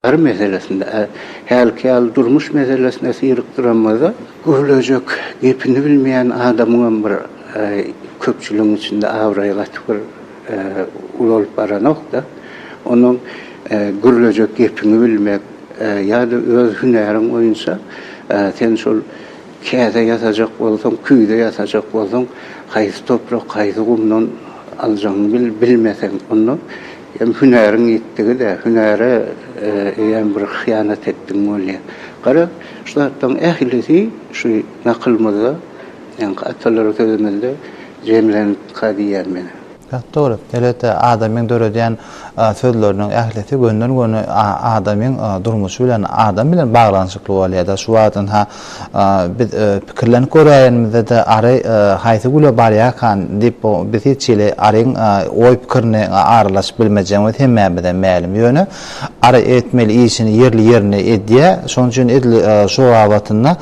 Her meselesinde, hälki ýaly durmuş meselesine syrykdyramyzda, gürlejek gepini bilmeýän adamyňam bir köpçüligiň içinde abraýy gaty bir ulalyp baranok-da. Onuň gürlejek gepiňi bilmek ýa-da öz hünäriň boýunça sen şol Käse ýasajak bolsaň, küýze ýasajak bolsaň, haýsy toprak, haýsy gumdan aljagyňy bil, bilmeseň, onda hem hünäriň ýitdigi-dä, hünäre eýýäm bir hyýanat etdigiň bolýar. Gara, şu zatlaryň ählisi şu nakylymyzda, ýaňky atalara sözümizde jemlenipdika diýýän men. Gaty dogry. Elbetde, adamyň döredýän sözleriniň ählisi gönden-göni adamyň durmuşy bilen, adam bilen baglanyşykly bolýar-da. Şu wagt ynha, biz pikirlenip göräýenimizde-de, ary haýsy güle barýarkan diýip, bu biz hiç hili aryň oý-pikirini aralaşyp bilmejegimiz hemmämize mälim. Ýöne, ary etmeli işini ýerli-ýerinde edýär. Şonuň üçin edil şo babatynda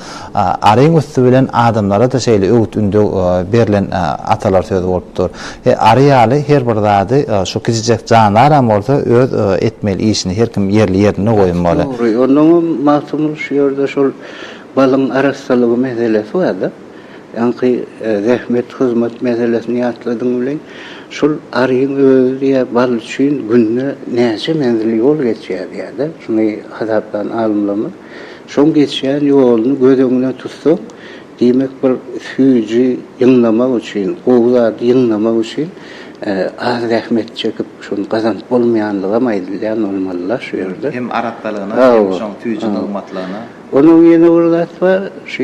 Aryň üsti bilen adamlara-da şeýle öwüt-ündew berlen atalar sözi bolupdyr. He, ary ýaly her bir zady şu kiçijek jandaram bolsa öz etmeli işini her kim ýerli-ýerinde goýmaly. Dogry. Onnoň hem Magtymguly şu ýerde şol balyň arassalygy meselesi bar-da. Ýaňky zähmet, hyzmat meselesini ýatladyň welin, şol aryň özi diýýär, bal üçin günde näçe menzil ýol geçýär diýýär-de. Şuny hasaplan alymlarymyz. Şoň geçýän ýoluny göz öňüne tutsaň, diýmek bir süýji ýygnamak üçin, gowy zady ýygnamak üçin az zähmet çekip şony gazanyp bolmaýanlygam aýdylýan bolmaly-la şu ýerde. Hem arassalygyna, hem şoň süýji nygmatlygyna. Onuň ýene bir zat bar, şu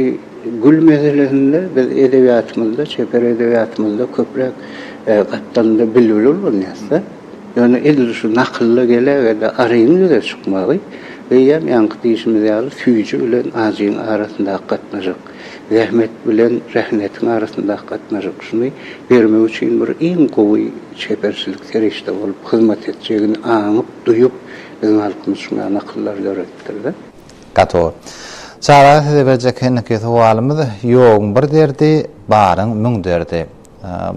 gül meselesinde biz edebiýatymyzda, çeper edebiýatymyzda köpräk gapdalynda bilbil ullanýarys-da. Ýöne edil şu nakylda gele-gele aryň ýüze çykmagy, eýýäm ýaňky diýşimiz ýaly, süýji bilen ajyň arasyndaky gatnaşyk, zähmet bilen rehnetin arasyndaky gatnaşyk, şuny bermek üçin bir iň gowy çeperçilik serişde bolup hyzmat etjegini aňyp, duýup, biziň halkymyz şuňa nakyllary döretdir-de. Gato. Çaga size berjek henikiý sowalymyz, Ýogyň bir derdi, baryň müň derdi.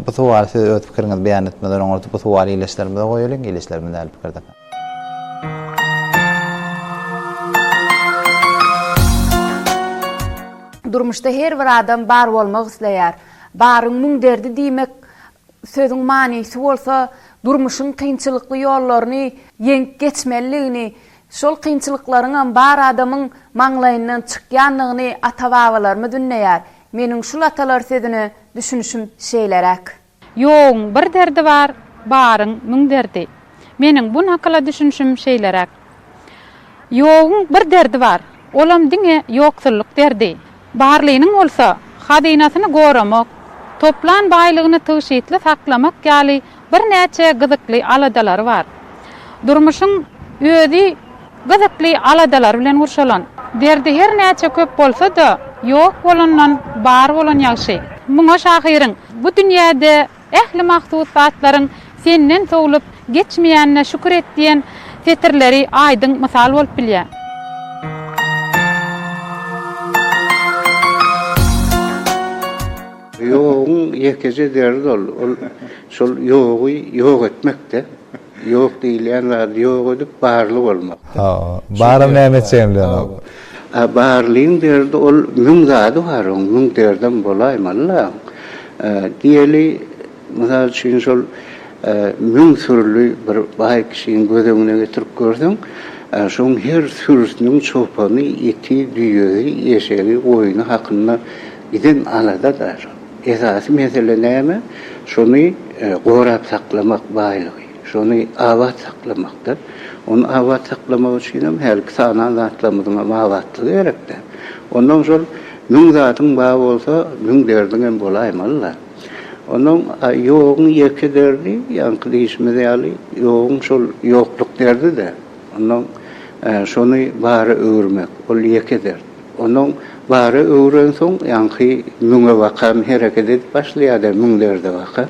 Bu sowaly siz öz pikiriňizi beýan etmeden oňat bu sowaly ileçlerimize goýalyň, ileçlerimiz nähili pikirde? Durmuşda her bir adam bar bolmak isleýär. Baryň müň derdi diýmek sözüň manysy bolsa, durmuşyň kynçylykly ýollaryny ýeňip geçmelidigini, şol kynçylyklaryňam bar adamyň maňlaýyndan çykýandygyny ata-babalarymyz ündeýär. Meniň şul atalar sözüne düşünişim şeýleräk. Ýogyň bir derdi bar, baryň müň derdi. Meniň bu nakyla düşünişim şeýleräk. Ýogyň bir derdi bar, olam diňe ýoksullyk derdi. Barlynyň bolsa, hazynasyny goramak, toplan baýlygyny tygşytly saklamak ýaly birnäçe gyzykly aladalary bar. Durmuşyň özi gyzykly aladalar bilen gurşalan. Derdi her näçe köp bolsa-da, ýok bolandan bar bolan ýagşy. Muňa şahyryň, Bu dünýäde ähli mahsus zatlaryň senden sowlup geçmeýänine şükür et diýen setirleri aýdyň mysal bolup bilýär. Ýoguň ýekeje derdi ol, ol şol ýogy ýok etmek-de. Ýok diýilýän zady ýok edip, barly bolmak. Ha, baram näme etjegini bilenok. A barlyň derdi ol müň zady bar, oň müň derdem bolaýmaly-la. Diýeli, Mysal üçin, şol müň sürüli bir baý kişini göz öňüne getirip görseň, şoň her sürüsiniň çopany, iti, düýesi, eşegi, goýny hakynda giden alada-da. Esasy mesele näme? Şony gorap saklamak, baýlygy, şony abat saklamakda. Ony abat saklamak üçin hem hälki sanan zatlarymyzyň hem abatlygy gerek-dä. Onnoň şol müň zadyň bar bolsa, müň derdiň hem bolaýmaly-la. Onuň ýoguň ýeke derdi, ýaňky diýşimiz ýaly, ýoguň şol ýokluk derdi-de. Onuň şony bara öwürmek, ol ýeke dert. Onuň bara öwrensoň, ýaňky müňe bakan hereket edip başlaýar-da, müň derde bakan.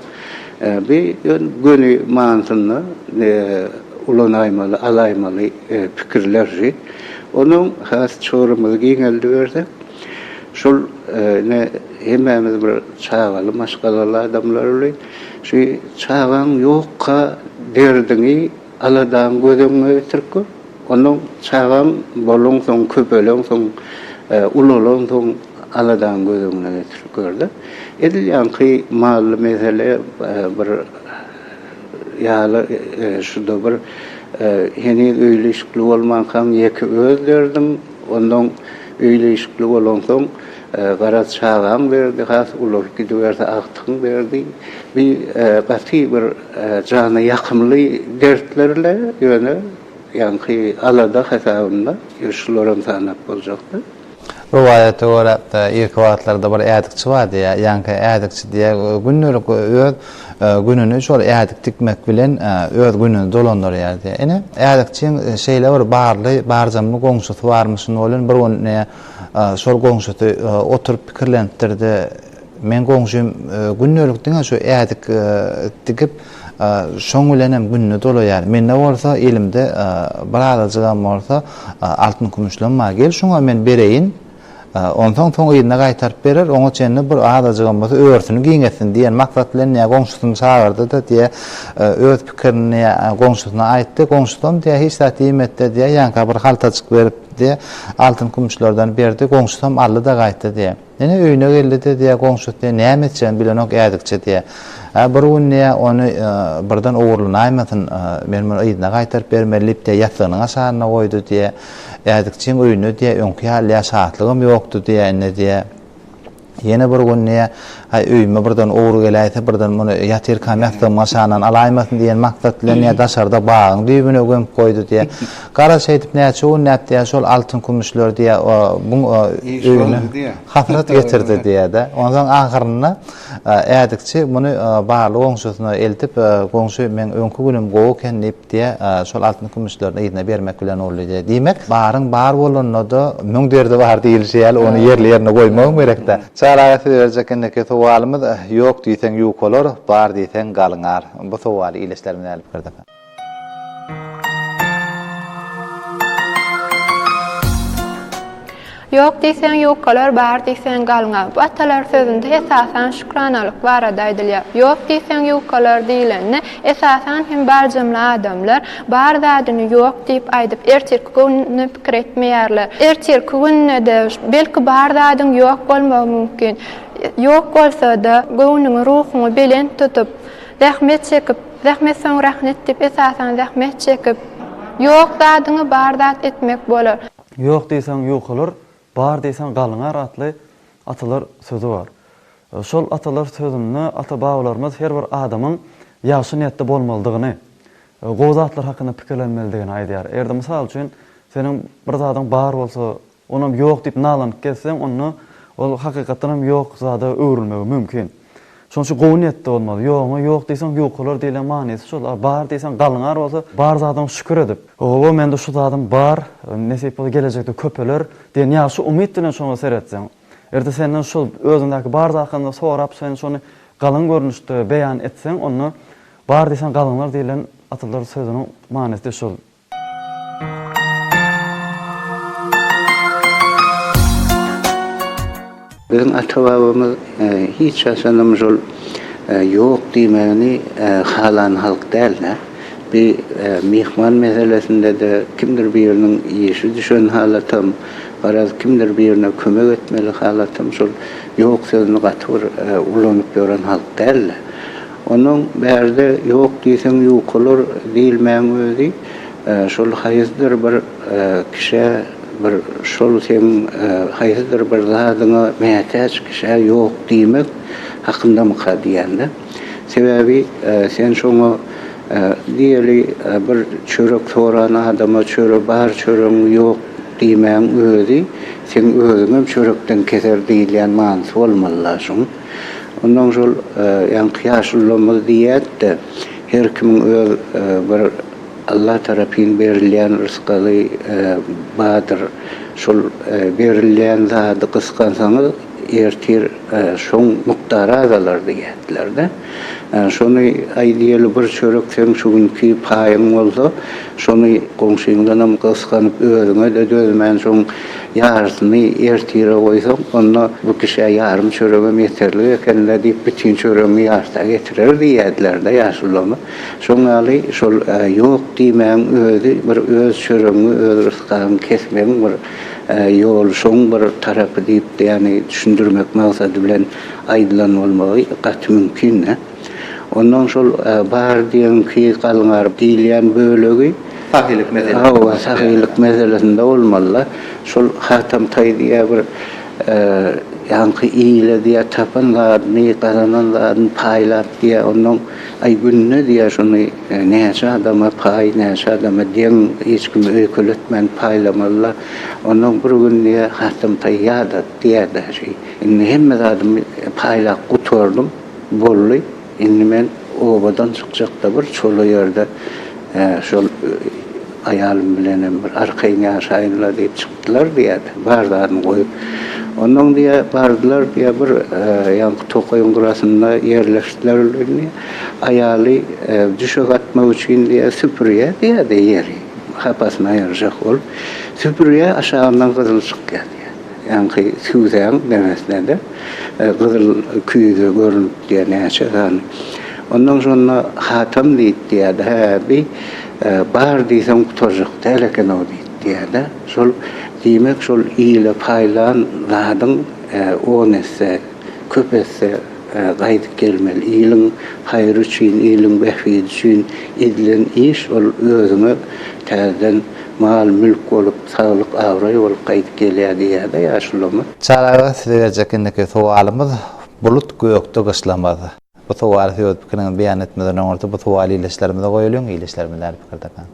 Bu göni manysynda ulanaýmaly, alaýmaly pikirlerdi. Onuň has çygrymyzy giňeldibersek. Şol ine hemmämiz bir çagaly maşgalaly adamlarly şu çagaň ýokka derdiňi aladaňy göz öňüňe getirip gör. Onnoň çagaň bolansoň köpeleňsoň ulalansoň aladaňy göz öňüne getirip görde. Edil ýaňky mally mesele bir ýaly şuda bir heniz öýli-işikli bolmankaň ýeke öz derdiň onnoň Öýli-işikli bolansoň, garaz, çagaň berdi, has ulalyp gidiberse, agtygyň berdi. Bi gaty bir jana ýakymly dertler-le, ýöne, ýaňky alada hasabynda, ýöne şularam sanap boljakdy. Rowaýata görä, irki wagtlarda bir ädikçi bar diýýär. Ýaňky ädikçi diýýär, gündelik öz. Gününi şol ädik tikmek bilen öz gününi dolandyrýardy. Ine, ädikçiň şeýle bir barly, barjamly goňşusy barmyşyn welin, bir gün ne şol goňşusy oturyp pikirlenipdir-de, Meň goňşym gündelik diňe şu ädik digip, şoň bilenem gününi dolaýar. Mende bolsa, elimde birazajygam bolsa altyn-kümüşlem bar. Gel, şuňa men bereýin. Onsoň soň yzyna gaýtaryp berer, oňa çenli bir azajygam bolsa örtüni giňetsin diýen maksat bilen diýä goňşusyny çagyrdy-da diýä öz pikirini diýä goňşusyna aýtdy. Goňşusam diýä hiç zat diýmedi-de diýä ýanka bir haltajyk berip diýä altyn-kümüşlerden berdi. Goňşusam aldy-da gaýtdy diýä. Ine öýüne geldi-de diýä goňşusy diýä näme etjegini bilenok ädikçe diýä. Hä bir gün diýä ony birden ogurlanaýmasyn men muny yzyna gaýtaryp bermeli diýip diýä ýassygynyň aşagyna goýdy diýä. Ädikçiň öýünde diýýär, öňki ýaly diýýär, şatlygym ýokdy diýýär, indi diýýär. Ýene bir gün diýýär, Aý, öýüme birden ogry geläýse, birden muny ýatyrkam ýassygymyň aşagyndan alaýmasyn diýen maksat bilen diýýär, daşarda bagyň düýbüne gömüp goýdy diýýär. Gara şeýdip näçe günläp diýýär, şol altyn-kümüşleri diýýär, buň öýüne hasrat getirdi diýýär-de. Onsoň ahyrynda Ädikçi muny barly goňşusyna eltip, Goňşy, meň öňki günüm gowy eken diýip, Diýe, şol altyn-kümüşlerini yzyna bermek bilen boldy diýe. Diýmek, baryň bar bolanda-da, müň derdi bar diýlişi ýaly, ony ýerli-ýerine goýmagam gerek-dä. Çaga aga size berjek indiki sowalymyz, Ýok diýseň ýuk bolar, bar diýseň galňar. Bu sowaly ildeşlerimiz nädip gördi? Ýok diýseň ýukalar, bar diýseň galňa. Bu atalar sözünde esasan şükranalyk barada aýdylýar. Ýok diýseň ýukalar diýlende, esasan hem barjamla adamlar bar zadyny ýok diýip aýdyp, ertirki gününe pikir etmeýärler. Ertirki günde-de belki bar zadyň ýok bolmagy mümkin. Ýok bolsa-da, göwnüňi, ruhuňy belent tutup, zähmet çekip, zähmet soň rahnet diýip, esasan zähmet çekip, ýok zadyňy bar zat etmek bolar. Ýok diýseň ýukalar, bar diýseň galyňar atly atalar sözi bar. Şol atalar sözünde ata-babalarymyz her bir adamyň ýagşy niýetde bolmalydygyny, gowy zatlar hakynda pikirlenmelidigini aýdýar. Eger-de mysal üçin seniň bir zadyň bar bolsa, onam ýok diýip nalanyp gezseň, onda ol hakykatdanam ýok zada öwrülmegi mümkin. Şonuň üçin gowy niýetde bolmaly. Ýogyňa ýok diýseň, ýukalar diýlen manysy şol. A bar diýseň, galňar bolsa, bar zadyňa şükür edip, Oba, mende şu zadym bar, nesip bolsa gelejekde köpeler diýen ýagşy umyt bilen şoňa seretseň. Erde senden şol özüňdäki bar zat hakynda sorap, sen şony galyň görnüşde beýan etseň, onda bar diýseň, galňar diýlen atalar sözüniň manysy şol. Biziň ata-babamyz hiç haçanam şol ýok diýmegini halan halk däl-de. Bi myhman meselesinde-de kimdir biriniň işi düşen halatam, garaz, kimdir birine kömek etmeli halatam şol ýok sözüni gaty bir ulanyp ýören halk däl-de. Onuň bärde ýok diýseň ýukalar diýilmäň özi şol haýsydyr bir kişä bir şol seň haýsydyr bir zadyňa mätäç kişä ýok diýmek hakyndamyka diýende. Sebäbi sen şoňa diýeli bir çörek soran adama çöre bar çöregiň ýok diýmäň özi seň özüňem çörekden keser diýilýän manysy bolmaly-la şuň. Ondan şol ýaňky ýaşulymyz diýýätde, her kimiň öz bir Allah tarapyn berilýän rysgaly bardyr. Şol berilýän zady gysgansaňyz, ertir şoň mukdary azalar diýýärdiler-de. Şony aýdaýaly bir çörek seň şu günki paýyň bolsa, şony goňşyňdanam gysganyp özüňe-de dözmän şoň Ýarysyny ertire goýsaň, onda bu kişä ýarym çöregem ýeterlik eken-dä diýip, bütin çöregiňi ýarta getirer diýerdiler-de ýaşululama. Şoň ýaly şol ýok diýmegiň özi bir öz çöregiňi, öz rysgagyňy kesmegiň bir ýoly, şoň bir tarapy diýip, ýagny düşündirmek maksady bilen aýdylan bolmagy gaty mümkin-dä. Ondan şol bar diýenki galňar diýilýän bölegi. Sahylyk meselesi. Hawa, sahylyk meselesinde bolmaly-da. Şol Hatam taý diýýär bir ýaňky ile diýýär tapan zadyny, gazanan zadyny paýlap diýýär. Ondan aý günde diýýär şony näçe adama paý, näçe adama deň hiç kimi öýkeletmän paýlamaly-da. Ondan bir gün diýýär Hatam taý ýadady diýýär daşy. Indi hemme zadymy paýlap gutardym. Bolly indi men obadan çykjakda bir çola ýerde şol aýalym bilenem bir arkaýyn ýaşaýynla diýip çykdylar diýýär. Bar zadyny goýup. Onnoň diýýär bardylar diýýär bir ýaňky tokaýyň gyrasynda ýerleşdiler indi aýaly düşek atmak üçin diýýär süpürýär diýýär-de ýeri hapasyny aýyrjak bolup süpürýär aşagyndan gyzyl çykýar. Ýaňky süýdäň deňesinde-de gyzyl küýze görnüpdi näçe sany. Ondan şonda Hatam diýipdi-de, Hä, bi bar diýseň gutarjak däl eken-ow diýipdi-de, şol, diýmek, şol ile paýlan zadyň on esse, köp esse Gaýdyp gelmeli. Iliň haýry üçin, iliň bähbidi üçin edilen iş ol özüňe täzeden mal-mülk bolup, saglyk-abraý bolup gaýdyp gelýär diýýär-de ýaşulylarymyz. Çary aga, size berjek indiki sowalymyz, Bulut gökde gyşlamaz. Bu sowaly siz öz pikiriňizi beýan etmeden öňürti bu sowaly ildeşlerimize goýalyň, ildeşlerimiz nädip pikir tapan.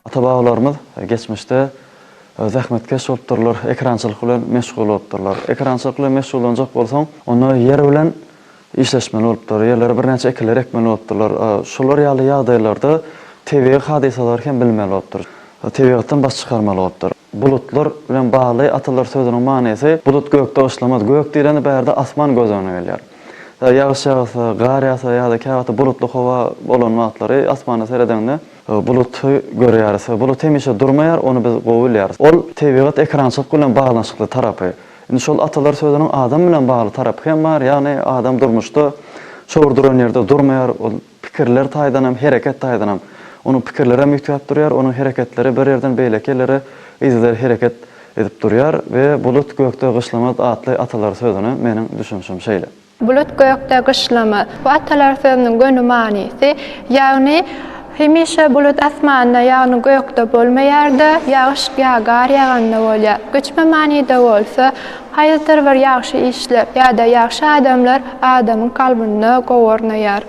Ata-babalarymyz geçmişde. Zähmetkeş bolupdyrlar, ekrançylyk bilen meşgul bolupdyrlar. Ekrançylyk bilen meşgullanjak bolsaň, onda ýer bilen işleşmeli bolupdyr, ýerlere birnäçe ekinler ekmeli bolupdyrlar. Şolar ýaly ýagdaýlarda tebigy hadysalary hem bilmeli bolupdyr. Tebigatdan baş çykarmaly bolupdyr. Bulutlar bilen bagly atalar sözüniň manysy, Bulut gökde gyşlamaz. Gök diýlende bu ýerde asman göz öňüne gelýär. Ýagyş ýagsa, gar ýagsa ýa-da käwagtda bulutly howa bolan wagtlary asmana seredeňde, Buluty görýäris we bulut hemişe durmaýar, ony biz gowy bilýäris. Ol tebigat ekrançylyk bilen baglanyşykly tarapy. Indi şol atalar sözüniň adam bilen bagly tarapy hem bar, ýagny adam durmuşda şor duran ýerde durmaýar, ol pikirler taýdan hem, hereket taýdan hem. Onuň pikirleri hem üýtgäp durýar, onuň hereketleri bir ýerden beýleki ýerlere yzygider hereket edip durýar we bulut gökde gyşlamaz atly atalar sözüne meniň düşünişim şeýle. Bulut gökde gyşlamaz. Bu atalar sözüniň göni manysy, ýagny hemişe bulut asmanda, ýagny gökde bolmaýar-da, ýagyş ýa gar ýaganda bolýar. Göçme manyda bolsa, haýsydyr bir ýagşy işler ýa-da ýagşy adamlar adamyň kalbynda gowy ornaýar.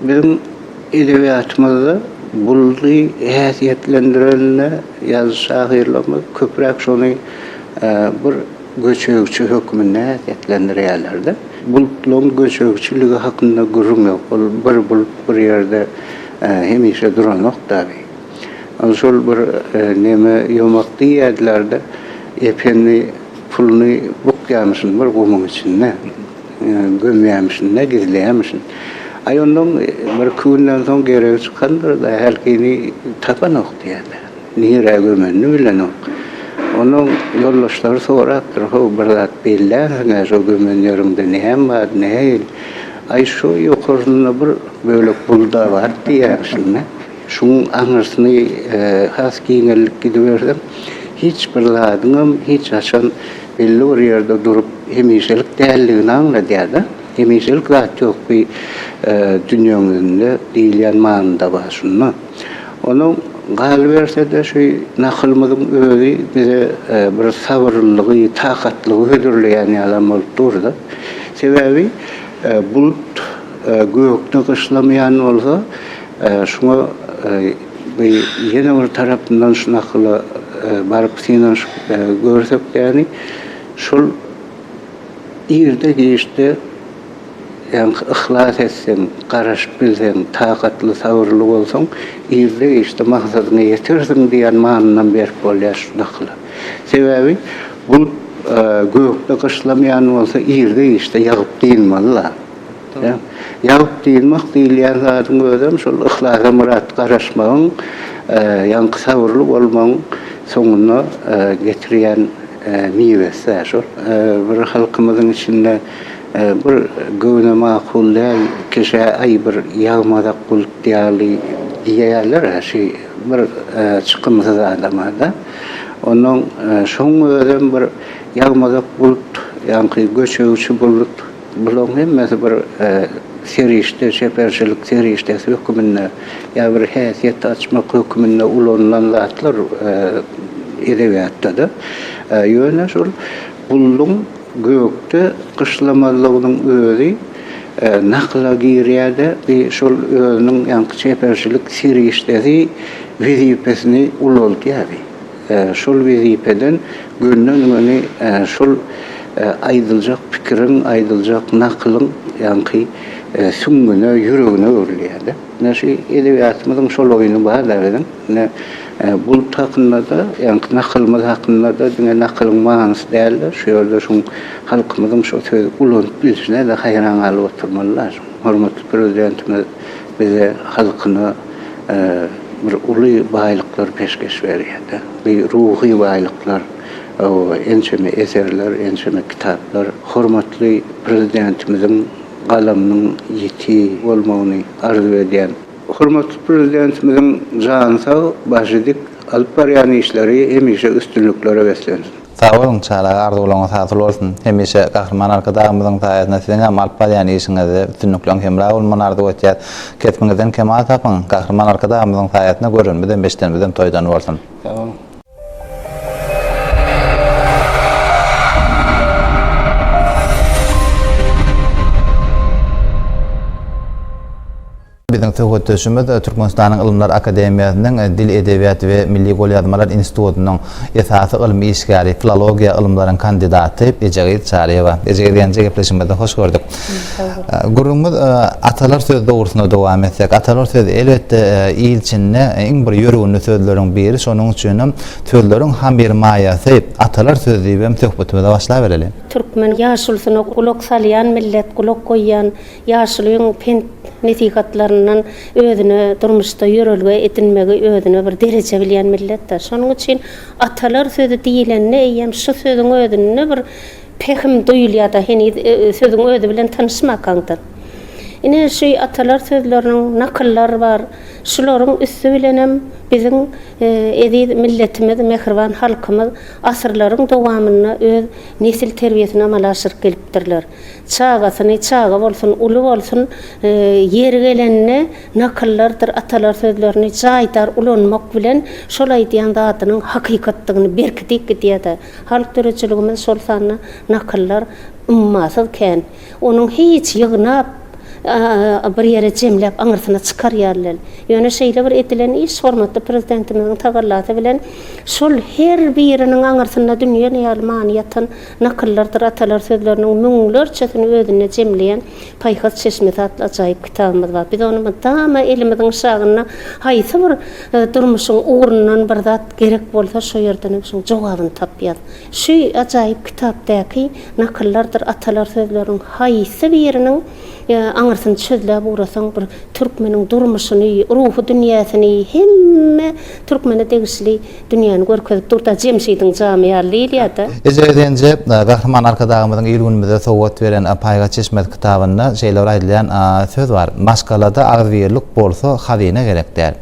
Biziň edebiýatymyzda buldy häsiýetlendiren-de ýazyjy şahyrlarymyz köpräk şony bir göçegçi hökmünde häsiýetlendirýärler-de. Bulutlaryň göçegçiligi hakynda gürrüň ýok. Ol bir bulut bir ýerde hemişe duranok dagy. Ol şol bir neme ýomak diýýärdiler-de, ependi puluny bukýamyşyn bir gumuň içinde. Gömýärmişin, ne gizleýärmişin. Aý onnoň birki günden soň geregi çykandyr-da, hälkini tapanok diýýärler. Nirä gömenini bilenok. Onnoň ýoldaşlary sorapdyr, How, bir zat bellänsiň-ä, şo gömen ýeriňde näm bar, nähili? Aý, şo ýokarsynda bir bölek bul-da bar diýýärmişin-dä. Şuň aňyrsyny has giňeldip gidibersem, hiç bir zadyňam hiç haçan belli bir ýerde durup, hemişelik däldigini aňladýar-da. Hemişelik zat ýok bi dünýäňizinde diýilýän manyda bar şunda. Onuň galyberse-de şu nakylymyzyň özi bize bir sabyrlylygy, takatlygy hödürleýän ýalam bolup dur-da. Sebäbi bulut gökde gyşlamaýan bolsa, Şuňa bi ýene bir tarapyndan şu nakyla baryp synanyşyp görsek ýani şol irde giçde ýanky yhlas etseň, garaşyp bilseň, takatly sabyrly bolsaň irde giçde maksadyňa ýetersiň diýen manynam berip bolýar şu nakyla. Sebäbi bulut gökde gyşlamaýan bolsa irde giçde ýagyp dynmaly-la. Ýagyp dyzmak diýilýän zadyň özem şol yhlasa myrat garaşmagyň, ýaňky sabyrly bolmagyň soňuna getirýän miwesi-dä şol. Bir halkymyzyň içinde bir göwne makul däl kişä aý bir ýagmazak bulut ýaly diýýärler-ä şi bir çykymsyz adama-da. Onnoň şoň özem bir ýagmazak bulut, ýaňky göçegçi bulut. Bularyň hemmesi bir serişde, çeperçilik serişdesi höküminde ýa bir häsiýet açmak höküminde ulanylan zatlar edebiýatda-da. Ýöne şol gulluň gökde gyşlamazlygynyň özi nakyla girýär-de, bi şol özüniň ýaňky çeperçilik serişdesi wezipesini ulaldýar. şol wezipeden gönden-göni şol aýdyljak pikiriň, aýdyljak nakylyň ýaňky süňňüne, ýüregine öwrülýär-de. Ine, şu edebiýatymyzyň şol oýny bar-da biziň. Ine, Bulut hakynda-da, ýaňky nakylymyz hakynda-da diňe nakylyň manysy däl-de, şu ýerde şuň halkymyzyň şo sözi ulanyp bilişine-de haýran galyp oturmaly-da. Hormatly Prezidentimiz Bize halkyna bir uly baýlyklar peşgeş berýärdi. Bi ruhy baýlyklar, ençeme eserler, ençeme kitaplar hormatly Prezidentimiziň galamynyň ýiti bolmagyny arzuw edýän. Hormatly Prezidentimiziň jany sag, başy dik, alyp barýan işleri hemişe üstünliklere beslensin! Sag boluň çaga arzuwlaryňyz hasyl bolsun hemişe Gahryman Arkadagymyzyň saýasynda siziňem alyp barýan işiňizde üstünlikleriň hemra bolmagyny arzuw etýäs. Kesbiňizden kemal tapyň. Gahryman Arkadagymyzyň saýasynda görenimizem eşidenimizem toýdan bolsun. Sag boluň. Biziň söhbetdeşimiz Türkmenistanyň Ylymlar akademiýasynyň Dil, edebiýat we milli golýazmalar institutynyň esasy ylmy işgäri, filologiýa ylymlaryň kandidaty Ejegyz Çaryýewa. Ejegyz Genje gepleşigimizde hoş gördük. Gürrüňimiz Atalar söz dogrusyna dowam etsek, atalar söz elbetde il içinde iň bir ýörgünli sözleriň biri, şonuň üçinem sözleriň hamyr maýasy atalar söz diýibem söhbetimize başlabereli. Türkmen ýaşulusyna gulak salýan millet, gulak goýýan Ýaşulyň pent-nesihatlaryndan özüne durmuşda ýörelge edinmegi özüne bir dereje bilýän milletdir. Şonuň üçin atalar sözi diýlende eýýäm şu sözüň özünde bir pähim duýulýar-da, heniz sözüň özi bilen tanyşmakaňdan. Ine, şu atalar sözleriniň nakyllar bar. Şularyň üsti bilenem biziň eziz milletimiz, mähriban halkymyz asyrlaryň dowamynda öz nesil terbiýesini amala aşyryp gelipdirler. Çagasyny, çaga bolsun, uly bolsun, ýeri gelende nakyllardyr atalar sözlerini jaýdar ulanmak bilen, şol aýdýan zadynyň hakykatdygyny berkidip gidýär-de. Halk döredijiligimiz, şol sanda nakyllar ummasyz kän. Onuň hiç ýygnap, bir ýere jemläp aňyrsyna çykar ýaly däl. Ýöne şeýle bir edilen iş hormatly Prezidentimiziň tagallasy bilen şol her biriniň aňyrsynda dünýe ýaly many ýatan Nakyllardyr atalar sözleriniň müňlerçesini özünde jemleýän Paýhas çeşmesi atly ajaýyp kitabymyz bar. Biz ony mydama elimiziň şagynda haýsy bir durmuşyň ugrundan bir zat gerek bolsa şo ýerdenem şoň jogabyny tapýas. Şu ajaýyp kitapdaky Nakyllardyr atalar sözleriniň haýsy biriniň aňyrsyny çözläp ugrasaň bir türkmeniň durmuşyny, ruhy dünýäsini, hemme türkmene degişli Dünýäni görkezip dur-da, Jemşidiň jamy ýaly liliýa-da. Eje Özenje, Gahryman Arkadagymyzyň il-günümize sowgat beren Paýhas çeşmesi kitabynda şeýle bir aýdylýan söz bar, Maşgalada agzybirlik bolsa, hazyna gerek däl.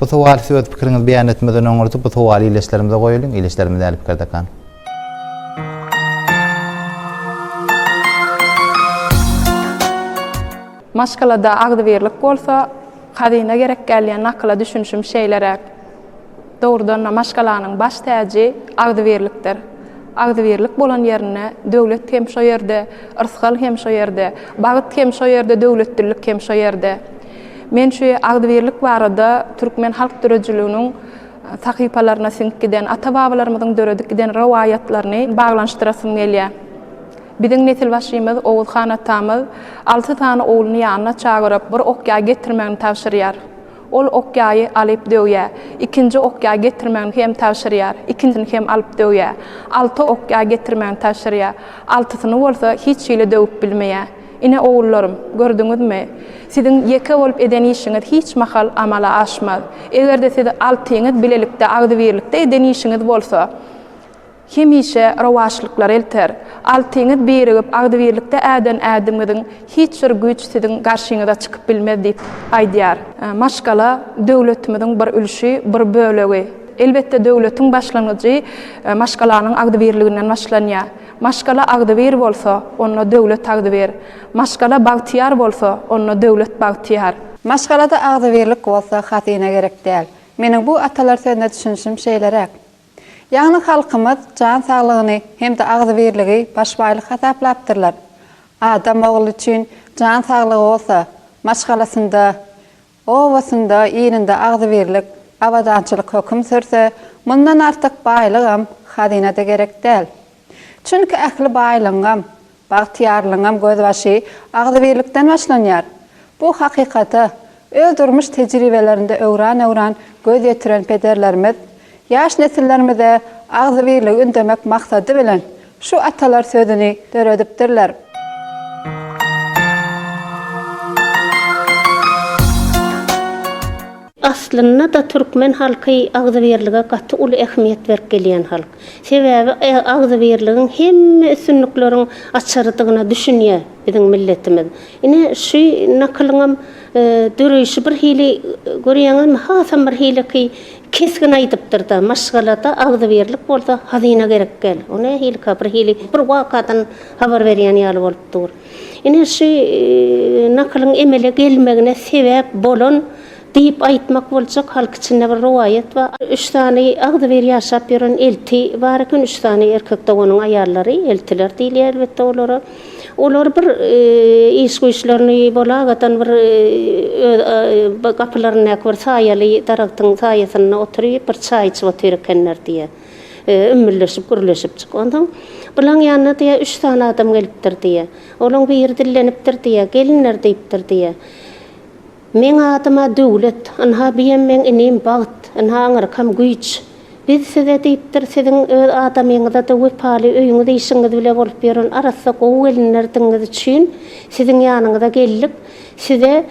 Bu sowaly siz öz pikiriňizi beýan etmezden öňürti bu sowaly ildeşlerimize goýulyň, ildeşlerimiz nähili pikirdekan? Maşgalada agzybirlik bolsa, hazyna gerek däl diýen nakyla düşünişim şeýleräk. Dogrudan-da, maşgalanyň baş täji agzybirlikdir. Agzybirlik bolan ýerinde döwlet hem şo ýerde, yrsgal hem şo ýerde, bagt hem şo ýerde, döwletlilik hem şo ýerde. Men şu agzybirlik barada türkmen halk döredijiliginiň sahypalaryna siňip giden, ata-babalarymyzyň döredip giden rowaýatlaryny baglanyşdyrasym gelýär. Biziň nesilbaşymyz Oguz han atamyz alty sany ogluny ýanyna çagyryp, bir ok ýaý getirmegini tabşyrýar. Ol okýaýy alyp döwýär. Ikinji okýaý getirmegini hem tabşyrýar. Ikinsini hem alyp döwýär. Alty okýaý getirmegini tabşyrýar. Altysyny bolsa hiç hili döwüp bilmeýär. Ine, ogullarym, gördüňizmi? Siziň ýeke bolup eden işiňiz hiç mahal amala aşmaz. Eger-de siz altyňyz bilelikde, agzybirlikde eden işiňiz bolsa, Hemişe rowaçlyklar elter. Altyňyz birigip agzybirlikde äden ädimiňiziň hiç bir güýç siziň garşyňyza çykyp bilmez diýip aýdýar. Maşgala döwletimiziň bir ülşi, bir bölegi. Elbetde döwletiň başlangyjy maşgalanyň agzybirliginden başlanýar. Maşgala agzybir bolsa, onda döwlet agzybir. Maşgala bagtyýar bolsa, onda döwlet bagtyýar. Maşgalada agzybirlik bolsa hazyna gerek däl. Meniň bu atalar sözüne düşünişim şeýleräk. Ýagny halkymyz jan saglygyny hem-de agzybirligi baş baýlyk hasaplapdyrlar. Adam ogly üçin jan saglygy bolsa, maşgalasynda, obasynda, ilinde agzybirlik, abadançylyk höküm sürse, mundan artyk baýlygam, hazyna-da gerek däl. Çünki ähli baýlygyňam, bagtyýarlygyňam gözbaşy agzybirlikden başlanýar. Bu hakykata öz durmuş tejribelerinde öwran-öwran göz ýetiren pederlerimiz ýaş nesillerimize agzybirligi ündemek maksady bilen şu atalar sözüni döredipdirler. Aslynda-da türkmen halky agzybirlige gaty uly ähmiýet berip gelýän halk. Sebäbi agzybirligiň hemme üstünlikleriň açarydygyna düşünýär biziň milletimiz. Ine, şu nakylyňam döreýşi bir hili, görýäňizmi, hasam bir hiliki kesgin aýdypdyr-da, Maşgalada agzybirlik bolsa hazyna gerek däl. O nähilika, bir hili bir wakadan habar berýän ýaly bolup dur. Ine şu nakylyň emele gelmegine sebäp bolan diýip aýtmak boljak halk içinde bir rowaýat bar. Üç sany agzybir ýaşap ýören elti bar eken, üç sany erkek doganyň aýallary, eltiler diýilýär elbetde olara. Olar bir iş-güýçlerini bolagadan bir öz gapylaryndaky bir saýaly daragtyň saýasynda oturyp bir çaý içip otyr ekenler diýýär. Ümmülleşip, gürleşip çyk. Onsoň bulaň ýanyna diýýär, üç sany adam gelipdir diýýär. Olaň biri dillenipdir diýýär, Gelinler diýipdir diýýär. Meň adym-a Döwlet. Ynha biem meň inim Bagt. Ynha aňyrkam Güýç. Biz size diýipdir, siziň öz adamyňyza-da wepaly, öýüňiz-işiňiz bile bolup ýören arassa gowy gelinlerdigiňiz üçin siziň ýanyňyza geldik. Size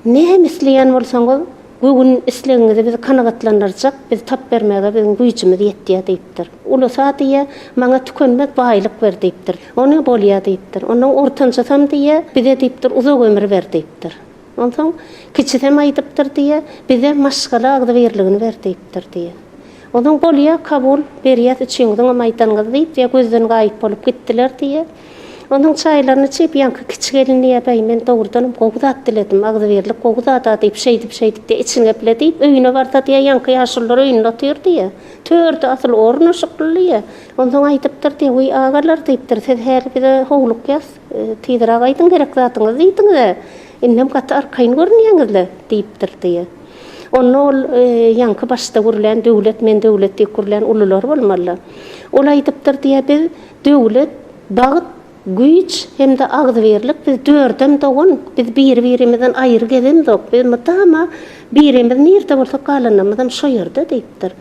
näme isleýän bolsaňyz, Bu gün islegiňizi biz kanagatlandyrjak, biz tap bermäge biziň güýjümiz ýetýär diýipdir. Ulusa diýýär, Maňa tükenmez baýlyk ber diýipdir. Ony bolýar diýipdir. Onsoň ortanjysam diýýär, Bize diýipdir, uzak ömür ber diýipdir. Onsoň kiçisem aýdypdyr diýýär, Bize maşgala agzybirligini ber diýipdir diýýär. Onsoň bolýar kabul, berýäs üçiňiziňem aýdanyňyzy diýip, gözden gaýyp bolup gitdiler diýýär. Onuň çaýlaryny çyýyp, ýaňky kiçi gelin Ýa-baý, men dogrudanam gowy zat diledim, agzybirlik gowy zad-a diýip, şeýdip-şeýdip-de içini gepledip, öýüne barsa diýýä, ýaňky ýaşulular öýünde otyr diýýä. Törde asyl ornaşykly diýýä. Onsoň aýdypdyr diýýä, Wiý, agalar, diýipdir, siz häli bize howlukýas, tizräk aýdyň gerek zadyňyzy diýdiňiz-ä, indem gaty arkaýyn görünýäňiz-le, diýipdir diýýä. Onda ol ýaňky başda gürlän Döwlet, men Döwlet diýip gürlän ulular bolmaly-la. Ol aýdypdyr diýýä, Biz Döwlet, bagt, güýç hem-de agzybirlik biz dördem dogan, biz biri-birimizden aýry gezemzok, biz mydama birimiz nirde bolsak galanlarymyzam şo ýerde diýipdir.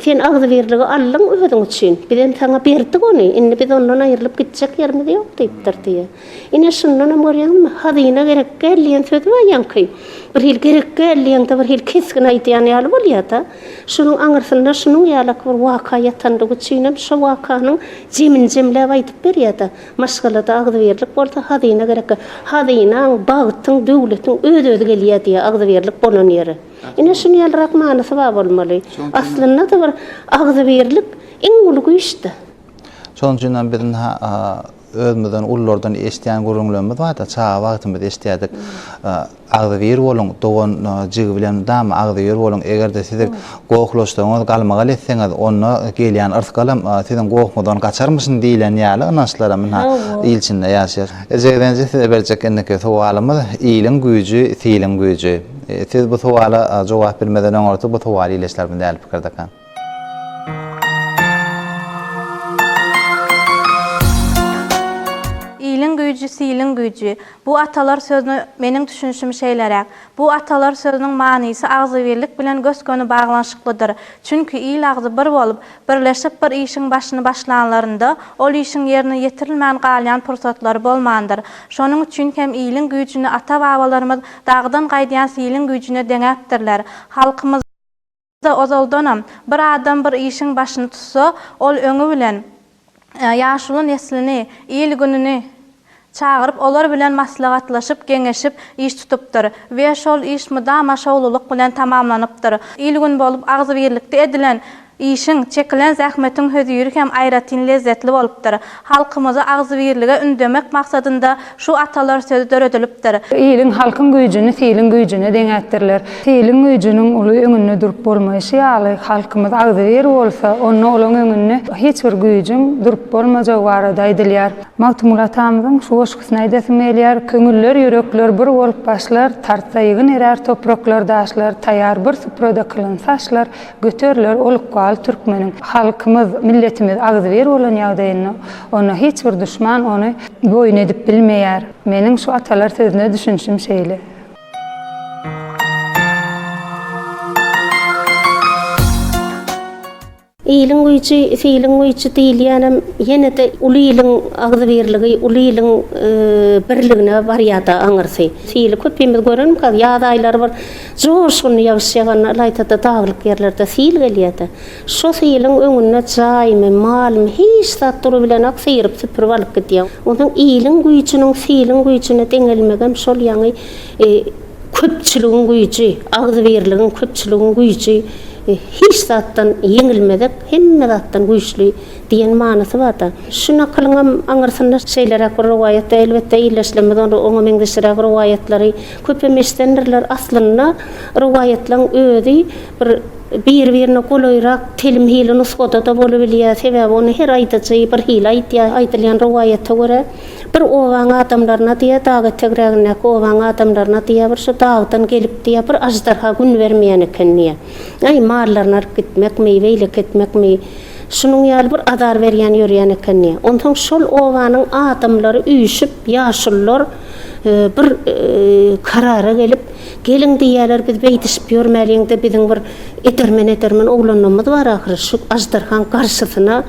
Sen agzybirligi aldyň özüň üçin, bizem saňa berdik ony, indi biz ondan aýrylyp gitjek ýerimiz ýok diýipdir diýýä. Ine şundanam görýäňizmi, hazyna gerekgäl diýen sözi bar ýaňky, birhili gerekgäl diýeňde birhili kesgin aýdýan ýaly bolýada. Şonuň aňyrsynda şunuň ýalak bir waka ýatandygy üçinem şo wakanyň jemini jemläp aýdyp berýär-de, maşgalada agzybirlik bolsa hazyna gerekkä, hazynaň, bagtyň, döwletiň öz-özi gelýär diýýär agzybirlik bolan ýeri. Ine şuny ýalyrak manysy bar bolmaly. Aslynda-da bir agzybirlik iň uly güýçdä. Şonuň üçinem biz ynha Özümizden ululardan eşidýän gürrüňlerimiz barda, çaga wagtymyz eşidýärdik. Agzybir boluň, dogan jigi bilen dama agzybir boluň. Eger-de sizi gohlaşsaňyz, galmagal etseňiz, onda gelýän yrsgalam siziň gohuňyzdan gaçarmyşyn diýlen ýaly ynançlar hem ynha il içinde ýaşaýar. Jigdenje size berjek indiki sowalymyz, iliň güýji, siliň güýji. Siz bu sowala jogap bilmeden öňürti bu sowal ileşlermi däl pikirdekä? Iliň güýji, siliň güýji. Bu atalar sözüne meniň düşünişim şeýleräk. Bu atalar sözüniň manysy agzybirlik bilen gös-göni baglanyşyklydyr. Çünki il agzy bir bolup, birleşip bir işiň başyny başlanlarynda, ol işiň ýerine ýetirilmän galýan pursatlary bolmandyr. Şonuň üçin hem iliň güýjüni ata-babalarymyz dagdan gaýdýan siliň güýjüne deňäpdirler. Halkymyz. Ýa-da ozaldanam, bir adam bir işiň başyny tutsa, ol öňi bilen ýaşuly neslini, il-gününi çagyryp, olar bilen maslahatlaşyp, geňeşip, iş tutupdyr we şol iş mydama şowlulyk bilen tamamlanypdyr. Il-gün bolup agzybirlikde edilen işiň, çekilen zähmetiň höziri hem aýratyn lezzetli bolupdyr. Halkymyzy agzybirlige ündemek maksadynda şu atalar sözi döredilipdir. Iliň, halkyň güýjüni siliň güýjüne deňäpdirler. Siliň güýjüniň uly öňünde durup bolmaýşy ýaly, halkymyz agzybir bolsa, onda olaň öňünde hiç bir güýjüň durup bolmajagy barada aýdylýar. Magtymguly atamyzyň şu goşgusyny aýdasym gelýär, Köňüller, ýürekler bir bolup başlar, Tartsa ýygyn erär topraklar, daşlar, Taýar bir suprada kylynsa aşlar, Göteriler ol ykbal türkmeniň. Halkymyz, milletimiz agzybir bolan ýagdaýynda, onda hiç bir duşman ony boýun edip bilmeýär. Meniň şu atalar sözüne düşünişim şeýle. Iliň güýji, filiň güýji diýilýänem ýene-de uly iliň agzybirligi, uly iliň birligine barýar-da aňyrsy. Fili köpimiz görenmikäk, ýaz aýlary bir. Joşgunly ýagyş ýaganda ylaýta-da daglyk ýerlerde sil gelýär-de, şo siliň öňünde jaýmy, malmy, hiç zat durubilenok, syryp-süpürip alyp gidýär. Onsoň iliň güýjüniň siliň güýjüne deňelmegem şol ýaňy köpçüligiň güýji, agzybirligiň, köpçüligiň güýji hiç zatdan ýeňilmezek, hemme zatdan güýçli Diýen manysy barda. Şu nakylyňam aňyrsynda şeýleräk bir rowaýat, elbetde, ildeşlerimiz onda oňa meňzeşiräk rowaýatlary köpem eşidendirler. Aslynda rowaýatlaryň özi bir bir-birine golaýrak telim hili nusgada-da bolubilýär. Sebäbi ony her aýdyjy bir hili aýdýar. Aýdylýan rowaýata görä, bir obaň adamlaryna diýýär, dag etegrägindäki obaň adamlaryna diýýär, bir şu dagdan gelip diýýär, bir aždarha gün bermeýän eken diýýär. Aý, mallaryny alyp gitmekmi, beýleki etmekmi? Şunuň ýaly bir azar berýän ýörýän ekeni. Onsoň şol obanyň adamlary üýşüp, ýaşulular bir karara gelip, Geliň diýýärler, biz beýdişip ýörmäliň-de, biziň bir edermen-edermen oglanymyz bar ahyry, şu aždarhaň garşysyna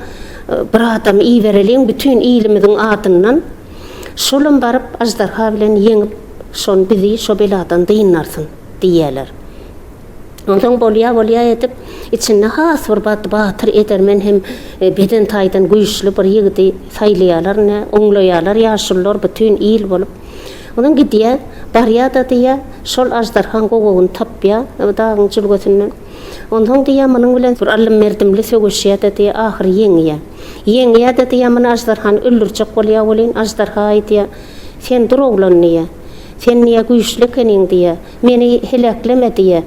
bir adam ibereliň bütin ilimiziň adyndan. Şolam baryp, aždarha bilen ýeňip, şon bizi şo beladan dynarsyn, diýýärler. Onsoň bolýa-bolýa edip, içinde has bir batly-batyr, edermen hem beden taýdan güýçli bir ýigidi saýlaýarlar, ine, oňlaýarlar ýaşulular bütin il bolup. Onsoň gidýär, barýar-da diýýär, şol aždarhaň gowagyny tapýar o dagyň jülgesinden. Onsoň diýýär, munuň bilen bir allym-merdimli söweşýär-de diýýär, ahyry ýeňýär. Ýeňýär-de diýýär, muny aždarhany öldürjek bolýar welin, aždarha aýdýar, Sen dur oglan diýýär. Sen diýýär güýçli ekeniň diýýär. Meni helekleme diýýär.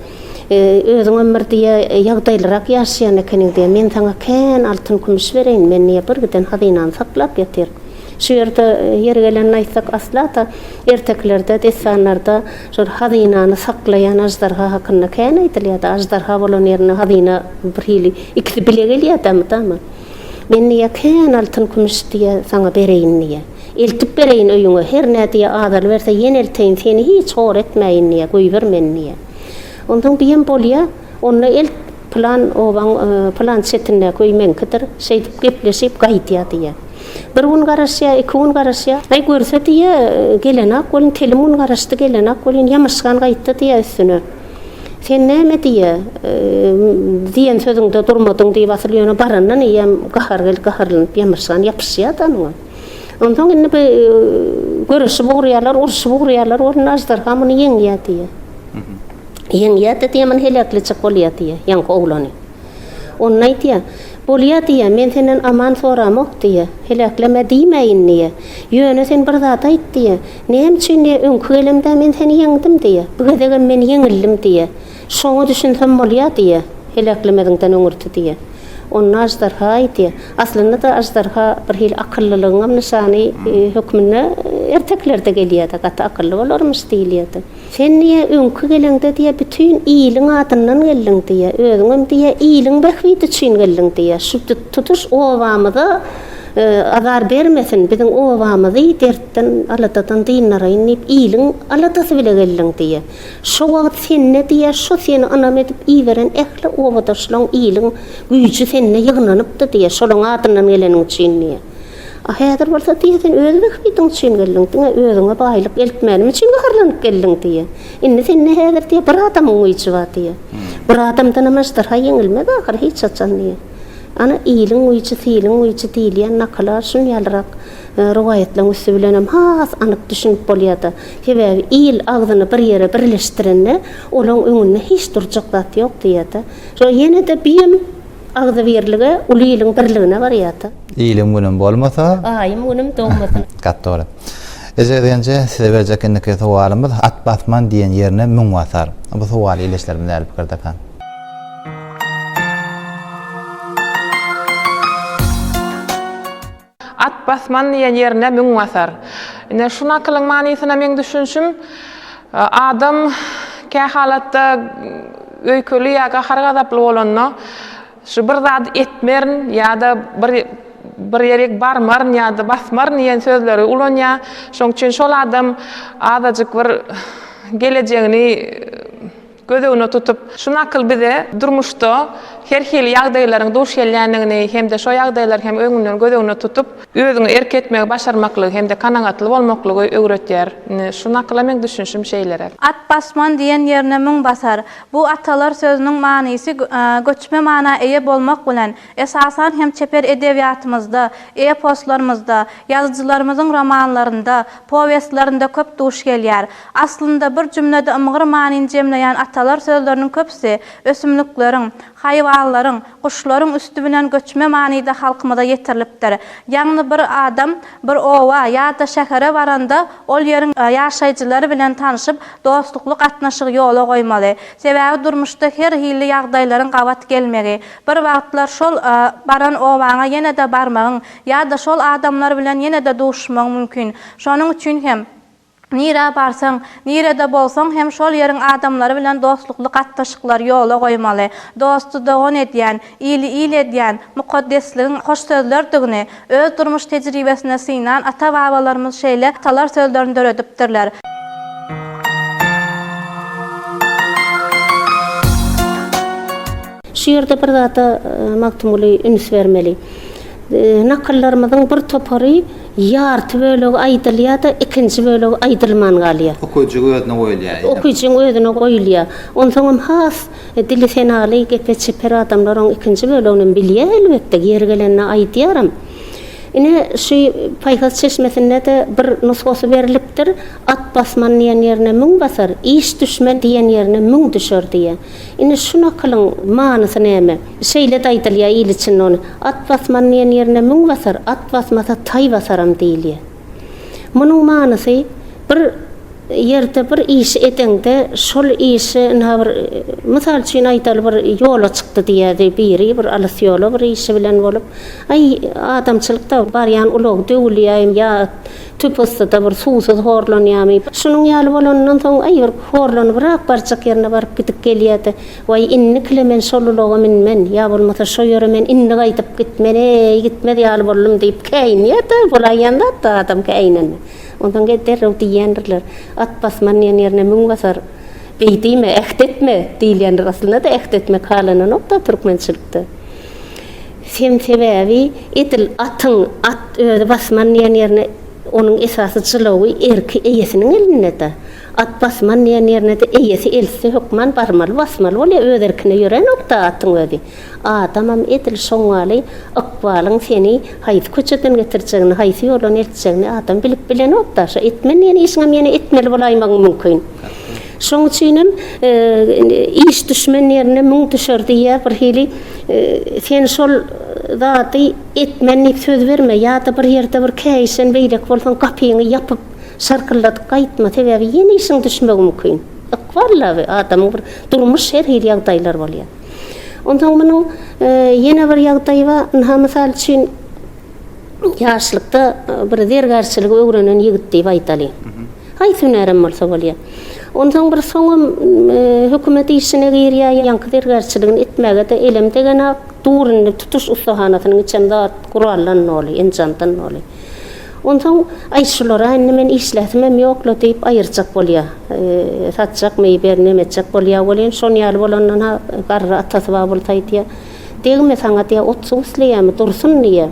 Özüňem bir diýýär, ýagdaýlyrak ýaşaýan ekeniň diýýär. Men saňa kän altyn-kümüş bereýin, men diýýär, birgiden hazynany saklap ýatyr. Şu ýerde ýeri gelende aýtsak, asla-da ertekilerde, dessanlarda şol hazynany saklaýan aždarha hakynda kän aýdylýar-da. Aždarha bolan ýerinde hazyna birhili ikisi bile gelýär-dä mydama. Men diýýär, kän altyn-kümüş diýýär, saňa bereýin diýýär. Eltip bereýin öýüňe, hernä diýýär, azalyberse ýene elteýin, seni hiç hor etmäýin diýýär, goýber meni diýýär. Onsoň diýýän, bolýa, onda elt, pylan obaň pylan çetindäki öý meňkidir, şeýdip gepleşip gaýdýar diýýär. Bir gün garaşýar, iki gün garaşýar. Aý, görse diýýär, gelenok welin, telim gün garaşdy, gelenok welin, ýamaşgan gaýtdy diýýär üstüne. Sen näme diýe, diýen sözüňde durmadyň diýip asyl ýöne barandan eýýäm gahar gelip gaharlanyp ýamyşgan ýapyşýa-da muňa. Onsoň indi bu göreşip urýarlar, urşup urýarlar bolanda aždarha muny ýeňýä diýe. Ýeňýä-de diýe muny heläkletjek bolýa diýe ýaňky oglany. Onda aýdýa, Bolýa diýýä, men senden aman soramok diýýä, heläkleme diýmäýin diýýä. Ýöne sen bir zat aýt diýýä, näme üçin diýýä, öňki gelemde men seni ýeňdim diýýä, bu gezegem men ýeňildim diýýä. Şoňa düşünsem bolýa diýýä, heläklemeziňden öňürti diýýä. Onda aždarha aýdýa, aslynda-da aždarha bir hili akyllylygyňam nyşany hökmünde erteklerde gelýä-de, gaty akylly bolarmyş diýilýä-de. Sen diýe öňki geleňde diýe bütin iliň adyndan geldiň diýe, özüňem diýe iliň bähbidi üçin geldiň diýe, şu tutuş obamyza azar bermesin, biziň obamyzy dertden, aladadan dyndarayyn diýip iliň aladasy bile geldiň diýe. Şo wagt sende diýe şo seni ynam edip iberen ähli obadaşlaň iliň güýji sende ýygnanypdy diýe, şolaň adyndan geleniň üçin diýe. A häzir bolsa diýýär, sen öz bähbidiň üçin geldiň, diňe özüňe baýlyk eltmänim üçin gaharlanyp geldiň diýýär. Indi sende häzir diýýär, bir adamyň güýji bar diýýär. Bir adamdanam aždarha ýeňilmez ahyry hiç haçan diýýär. Ana, iliň güýji, siliň güýji diýilýän nakyla şun ýalyrak rowaýatlaryň üsti bilenem has anyk düşünip bolýar-da. Sebäbi il agzyny bir ýere birleşdirende, olaň öňünde hiç durjak zat ýok diýýär-de. Şo ýene-de büýem. Agzybirlige uly iliň birligine barýarda. Ilim günüm bolmasa. Aýym günüm dogmasa. Gaty dogry. Eje Genje size berjek indiki sowalymyz At basman diýen ýerine müň basar. Bu sowaly ildeşlerimiz nähili pikirdekä? At basman diýen ýerine müň basar. Ine, şu nakylyň manysyna meň düşünişim, adam kä halatda öýkeli ýa gahar-gazaply bolanda, şu bir zat etmerin ýa-da bir bir ýerik barmaryn ýa-da basmaryn diýen sözleri ulanýar. Şoň üçin şol adam azajyk bir gelejegini Göz öňüne tutup, şu nakyl bize durmuşda her hili ýagdaýlaryň duş gelýändigini hem-de şo ýagdaýlary hem öňünden göz öňüne tutup, özüňe erk etmegi başarmaklygy hem-de kanagatly bolmaklygy öwretýär. Indi şu nakyla meň düşünişim şeýleräk. At basman diýen ýerine müň basar. Bu atalar sözüniň manysy göçme mana eýe bolmak bilen, Esasan hem çeper edebiýatymyzda, eposlarymyzda, ýazyjylarymyzyň romanlarynda, powestlerinde köp duş gelýär. Aslynda, bir jümlede ymgyr manyny jemleýän atalar sözleriniň köpüsi ösümlikleriň, haýwanlaryň, guşlaryň üsti bilen göçme manyda halkymyza ýetirilipdir. Ýagny bir adam bir oba ýa-da şähere baranda ol ýeriň ýaşaýjylary bilen tanşyp, dostlukly gatnaşygy ýola goýmaly. Sebäbi durmuşda her hilli ýagdaýlaryň gabat gelmegi, Bir wagtlar şol baran obaňa ýene-de barmagyň ýa-da şol adamlar bilen ýene-de duşuşmagyň mümkin. Şonuň üçin hem, nirä barsaň, nirede bolsaň hem şol ýeriň adamlary bilen dostlukly gatnaşyklary ýola goýmaly. Dosty dogan edýän, ili il edýän mukaddesligiň hoş sözlerdigini, Öz durmuş tejribesinde synan ata-babalarymyz şeýle atalar sözlerini döredipdirler. Şu ýerde bir zada Magtymguly üns bermeli. Nakyllarymyzyň bir topary ýarty bölegi aýdylýar-da, ikinji bölegi aýdylman galýar. Okyjyň özüne goýulýar. Okyjyň özüne goýulýar. Onsoňam has Dili senaly, gepe çeper adamlar oň ikinji böleginem bilýä elbetde, ýeri gelende aýdýaram. Ine, şu Paýhas çeşmesinde-de bir nusgasy berlipdir, At basman diýen ýerine müň basar, iş düşmen diýen ýerine müň düşer diýýä. Ine, şu nakylyň manysy näme? Şeýle-de aýdylýa il içinde ony, At basman diýen ýerine müň basar, at basmasa taý basaram diýilýä. Munuň manysy bir ýerde bir işi edeňde şol işi ynha bir mysal üçin aýdaly bir ýola çykdy diýýädi biri bir alys ýola bir işi bilen bolup aý adamçylykda barýan ulag döwülýäým ýa tüpüstide bir suwsuz horlanýamy şunuň ýaly bolanyndan soň aý bir horlanybyrak barjak ýerine baryp gidip gelýädi Waý, indikile men şol ulaga münmen, ýa bolmasa şo ýere men indi gaýdyp gitmen-eý, gitmez ýaly boldum diýip käýinýär-dä, bolaýýan zat-da adam käýinende. Onsoň gel derrew diýýändirler, At basman diýen ýerine mün basar, beý diýme, äht etme diýilýändir. Aslynda-da äht etmek halananok-da türkmençilikde. Sem sebäbi edil atyň at özi basman diýen ýerine onuň esasy jylawy, erki eýesiniň elinde-de. At basman diýen ýerine-de eýesi eltse hökman barmaly, basmaly bolýar, öz erkine ýörenok-da atyň özi. Adamam edil şoňňaly ykbalyň seni haýsy köçeden getirjegini, haýsy ýoldan eltjegini adam bilip bilenok-da. Şo etmen diýen işiňem ýene etmeli bolaýmagyň mümkin. Şoň üçinem iş düşmen ýerine müň düşer diýýär, birhili sen şol zady etmen diýip söz berme, ýa-da bir ýerde bir käýişen beýleki bolsaň gapyňy ýapyp, Şarkyldadyp gaýtma sebäbi ýene işiň düşmegi mümkin. Ykbal laby adamyň bir durmuş her hili ýagdaýlar bolýar. Onsoň munuň ýene bir ýagdaýy bar. Ynha mysal üçin ýaşlykda bir zergärçiligi öwrenen ýigit diýip aýdalyň. Haýsy hünärem bolsa bolýar. Onsoň bir soňam hökümet işine girýär, ýaňky zergärçiligini etmäge-de elem degenok. Dur indi tutuş ussahanasynyň içem zat guraldan doly, enjamdan doly. Onsoň, Aý, şular-a indi men işläsimem ýok-la diýip aýyrjak bolýa. Satjak, meý-beý nemetjek bolýa welin, şon ýaly bolandan-ha garry atasy bar bolsa aýdýa, Degme saňa diýýä, ot-suw isleýämi, dursun diýýä.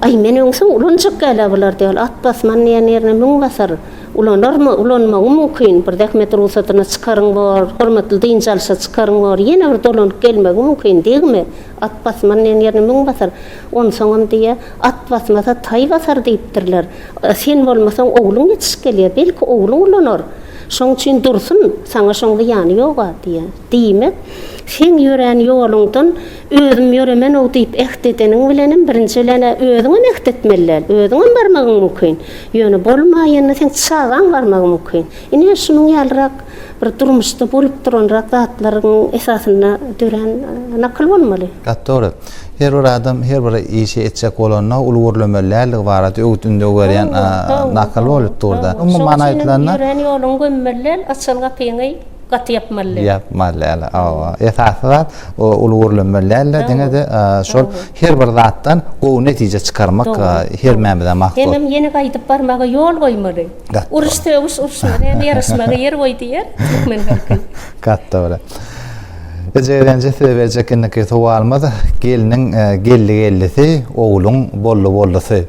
Aý, men öňsoň ulanjak gal-a bular diýýä, at basman diýýä, nirne müň basar. Ulanarmy, ulanmagym mümkin, bir zähmet rugsadyna çykaryn bor, hormatly dynç alyşa çykaryn bor, ýene bir dolanyp gelmegim mümkin, degme, At basmanyň ýerine müň basar. Onsoňam diýýä, At basmasa, taý basar diýipdirler. Sen bolmasaň, ogluň ýetişip gelýär. Belki, ogluň ulanar. Şoň üçin dursun, saňa şoň zyýany ýog-a diýýä. Diýmek, seň ýörän ýoluňdan özüm ýöremen-ow diýip äht edeniň bilenem, birinji bilen-ä özüňem äht etmeli däl. Özüňem barmagyň mümkin. Ýöne bolmaýanda seň çagaň barmagy mümkin. Ine, şunuň ýalyrak Bir durmuşda bolup duranrak zatlaryň esasynda dörän nakyl bolmaly. Gaty dogry. Her bir adam her bir işi etjek bolanda uly gürlemeli däldigi barada öwüt-ündew berýän nakyl bolup dur-da. Umumy many aýdylanda. Ýörän ýoluňy gömmeli däl, açylan gapyňy gaty ýapmaly däl. Ýapmaly däl, hawa. Esasy zat uly gürlemeli däl-de, diňe-de şol her bir zatdan gowy netije çykarmak hermämize mahsus. Hemem ýene gaýdyp barmaga ýol goýmaly. Uruş sögüş urşuna näme ýaraşmaga ýer goý diýer türkmen halky. Gaty dogry. Eje Ezenji size berjek indiki sowalymyz gelniň e, geldi geldisi, ogluň boldy boldusy.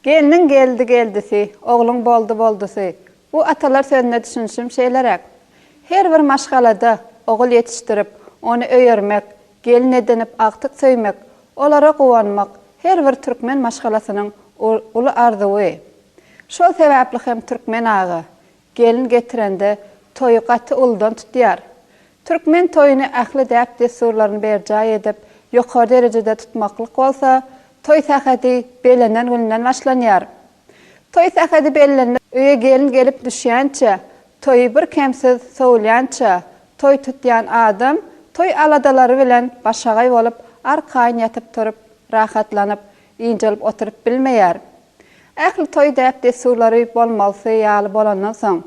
Gelniň geldi geldisi, ogluň boldy boldusy. Bu atalar sözüne düşünişim şeýleräk. Her bir maşgalada ogul ýetişdirip, ony öýermek, Gelin edinip agtyk söýmek, olara guwanmak her bir türkmen maşgalasynyň uly arzuwy. Şol sebäpli hem türkmen aga, gelin getirende toýy gaty uludan tutýar. Türkmen toýuny ähli däp-dessurlaryny berjaý edip, ýokary derejede tutmaklyk bolsa, toý sähedi belenen gününden başlanýar. Toý sähedi bellenmez. Öýe gelin gelip düşýänçä, toýy bir kemsiz sowulýança, toý tutýan adam toý aladalary bilen başagaý bolup, arkaýyn ýatyp-turup, rahatlanyp, ynjalyp oturyp bilmeýär. Ähli toý däp-dessurlary bolmalysy ýaly bolandan soň,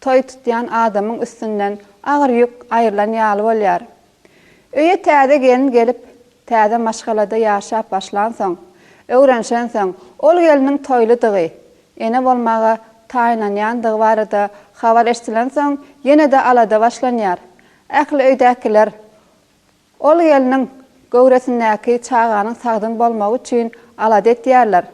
toý tutýan adamyň üstünden agyr ýük aýrylan ýaly bolýar. Öýe täze gelin gelip, täze maşgalada ýaşap başlansoň, öwrenişensoň, ol gelniň toýludygy, ene bolmaga taýynlanýandygy barada habar eşdilensoň, ýene-de alada başlanýar. Ähli öýdäkiler ol gelniň göwresindäki çaganyň sagdyn bolmagy üçin alada etýärler.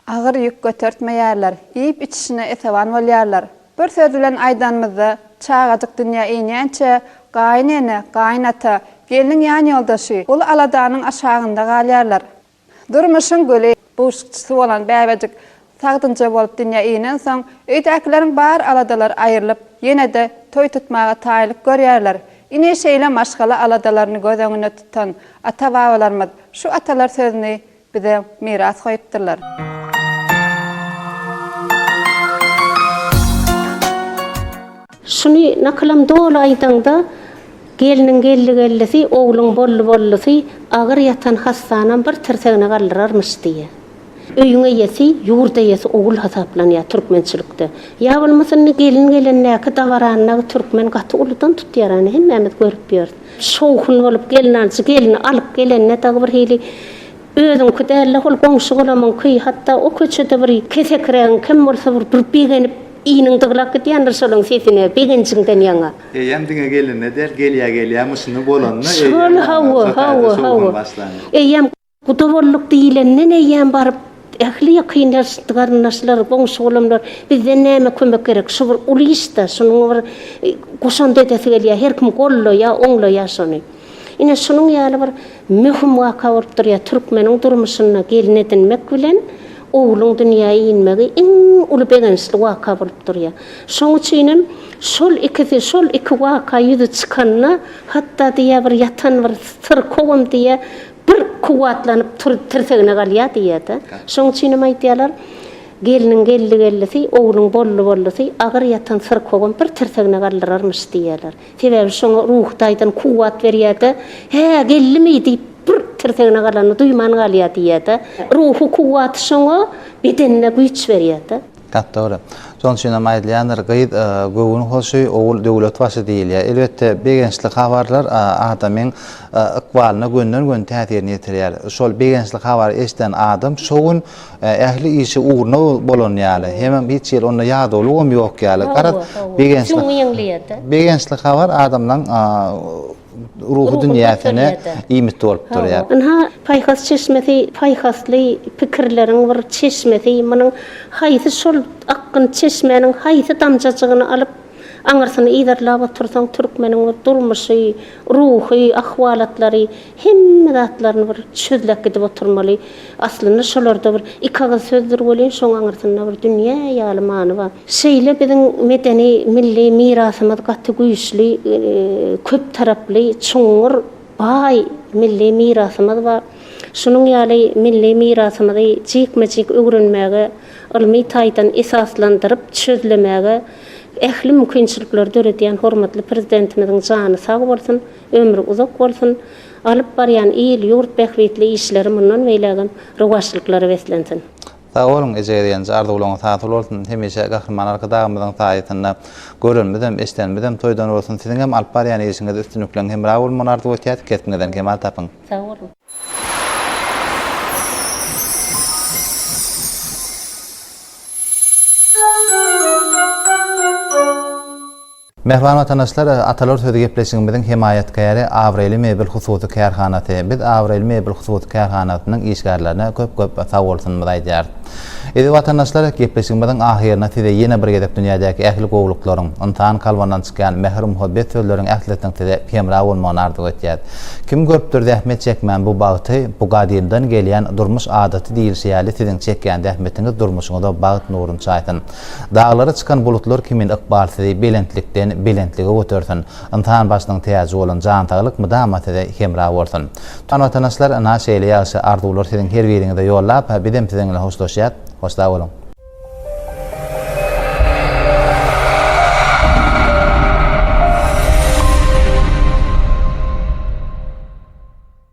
Agyr ýük götertmeýärler, iýip-içişine esewan bolýarlar. Bir söz bilen aýdanymyzda, çagajyk dünýä inýänçä, gaýyn ene, gaýyn ata, gelniň ýanýoldaşy, uly aladanyň aşagynda galýarlar. Durmuşyň güli, buşlukçysy bolan bäbejik sagdynja bolup dünýä inensoň, öýdäkileriň bar aladalary aýrylyp, ýene-de toý tutmaga taýynlyk görýärler. Ine, şeýle maşgala aladalaryny göz öňünde tutan ata-babalarymyz şu atalar sözüni Bize miras goýupdyrlar. Şuny nakylam doly aýdaňda, Gelniň geldi-geldisi, ogluň boldy-boldusy, agyr ýatan hassanam bir tirsegine galdyrarmyş diýýär. Öýüň eýesi, ýurt eýesi ogul hasaplanýar türkmençilikde. Ýa bolmasa indi gelin gelendäki dabaranyny türkmen gaty uludan tutýar, ony hemmämiz görüp ýörüs. Şowhun bolup gelnanjy gelni alyp gelende dagy bir hili özüňki däl-de hol goňşy-golamyňky, hatda o köçede bir kesekirägiň kem bolsa bir durup begenip iniň dyglap gidýändir şolaň sesine begenjiňden ýaňa. Eýýäm diňe gelende däl gelýä-gelýä myşyny bolanda eýýäm ýaňa bu taýda şowhun başlanýar. Eýýäm. Guda bolduk diýlenden eýýäm baryp, ähli ýakyn ýaşytly garyndaşlar, goňşy-golamlar, Bizden näme kömek gerek? Şu bir uly iş-de, şunuň bir goşant edesi gelýär, her kim goldaýar, oňlaýar şony. Ine, şunuň ýaly bir möhüm waka bolup durýar. Türkmeniň durmuşynda gelin edinmek bilen ogluň dünýä inmegi iň uly begençli waka bolup durýar. Şoň üçin hem şol ikisi, şol iki waka ýüze çykanda, hatda diýýär, bir ýatan bir syrkawam diýýär, Bir kuwwatlanyp tur, tirsegine galýar diýýär-de. Şoň üçin hem aýdýarlar, Gelniň geldi-geldisi, ogluň boldy-boldusy, agyr ýatan syrkawam bir tirsegine galdyrarmyş diýýärler. Sebäbi şoňa ruhy taýdan kuwwat berýär-de, Hä, geldimi diýip, bir tirsegine galanyny duýman galýar diýýär-de. Ruhy kuwwaty şoňa bedenine güýç berýär-de. Gap dogry. Şoň üçin hem aýdylýandyr, gyz göwün hoşy, ogul döwlet başy diýilýär. Elbetde, begençli habarlar adamyň ykbalyna gönden-göni täsirini ýetirýär. Şol begençli habary eşiden adam şo gün ähli işi ugruna bolan ýaly, hemem hiç hili onda ýadawlygam ýok ýaly. Garaz, begençli habar adamlaryň ruhy dünýäsine iýmit bolup durýar. Ynha, paýhas çeşmesi, paýhasly pikirleriň bir çeşmesi, munuň haýsy şol akgyn çeşmäniň haýsy damjajygyny alyp, aňyrsyny yzarlap otursaň, türkmeniň bir durmuşy, ruhy ahwalatlary, hemme zatlaryny bir çözläp gidip oturmaly. Aslynda şolarda bir iki agyz sözdür welin, şoň aňyrsynda bir dünýä ýaly many bar. Şeýle biziň medeni milli mirasymyz gaty güýçli, köp taraply, çuňňur, baý milli mirasymyz bar. Şunuň ýaly milli mirasymyzy jikme-jik öwrenmäge, ylmy taýdan esaslandyryp çözlemäge ähli mümkinçilikleri döredýän hormatly Prezidentimiziň jany sag bolsun, ömri uzak bolsun, alyp barýan il, ýurt bähbitli işleri mundan beýlägem rowaçlyklara beslensin. Sag boluň eje gelgenje arzuwlaryňyz hasyl bolsun hemişe Gahryman Arkadagymyzyň saýasynda görenimizem eşdenimizem toýdan bolsun siziňem alyp barýan işiňizde üstünlikleň hemra bolmagyny arzuw etýäs kesbiňizden kemal tapyň. Sag boluň. Mähriban watandaşlar, Atalar sözi gepleşigimiziň hemaýatkäri Abraýly mebel hususy kärhanasy. Biz Abraýly mebel hususy kärhanasynyň işgärlerine köp-köp sagbolsunymyzy aýdýarys. Eziz watandaşlar, gepleşigimiziň ahyrynda size ýene bir gezek dünýädäki ähli gowulyklaryň, ynsan kalbyndan çykýan mähir-muhabbet sözleriň ählisiniň size hemra bolmagyny arzuw etýäris. Kim görüpdir zähmet çekmän bu bagty, bu gadymdan gelýän durmuş adaty diýilşi ýaly siziň çekýän zähmetiňiz durmuşyňyza bagt nurun çaýsyn. Daglara çykan bulutlar kimin ykbal sizi belentlikden belentlige götersin. Ynsan başynyň täji bolan jan saglyk mydama size hemra bolsun. Tutan watanaşlar ynha şeýle ýagşy arzuwlar siziň her biriňize ýollap bizem siziň bilen hoşlaşýas. Hoşsag boluň.